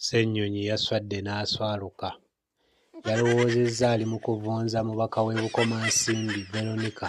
Ssennyonyi yaswadde n'aswaluka. Yalowoozezza ali mu kuvunza mubaka w'e Bukomansimbi Veronica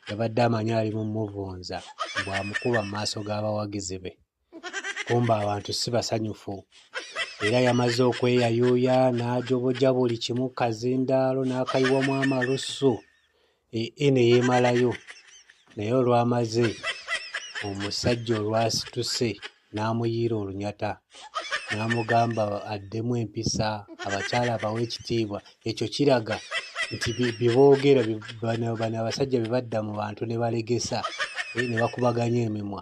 yabadde amanyi ali mu muvunza bw'amukuba mu maaso g'abawagizi be. kumba abantu si basanyufu era yamaze okweyayuuya n'ajoboja buli kimu kazindaalo n'akayiwamu amalusu ee e ne yeemalayo naye olwamaze omusajja olwasituse n'amuyiira olunyata n'amugamba addemu empisa abakyala abawa ekitiibwa ekyo kiraga nti byeboogera bano abasajja bye badda mu bantu ne balegesa eh, ne bakubaganya emimwa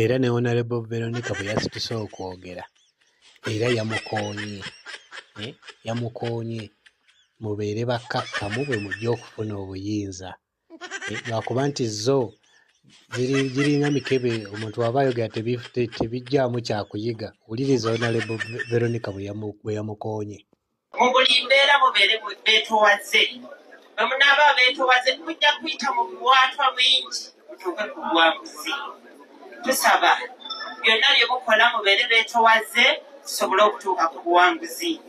Era ne Honorable Veronica bwe yasituse okwogera era yamukoonye eh, yamukoonye mubeere bakkakkamu bwe mujja okufuna obuyinza eh, lwakuba nti zo giringa mikebe omuntu waba ayogera tebijjaamu kyakuyiga wuliriza Honorable Veronica bwe yamukoonye mu buli mbeera mubeere beetowaze bwe munaaba abeetowaze mujja kuyita mu biwaatwa bingi mutuuke ku buwanguzi tusaba byonna bye mukola mubeere beetowaze tusobole okutuuka ku buwanguzi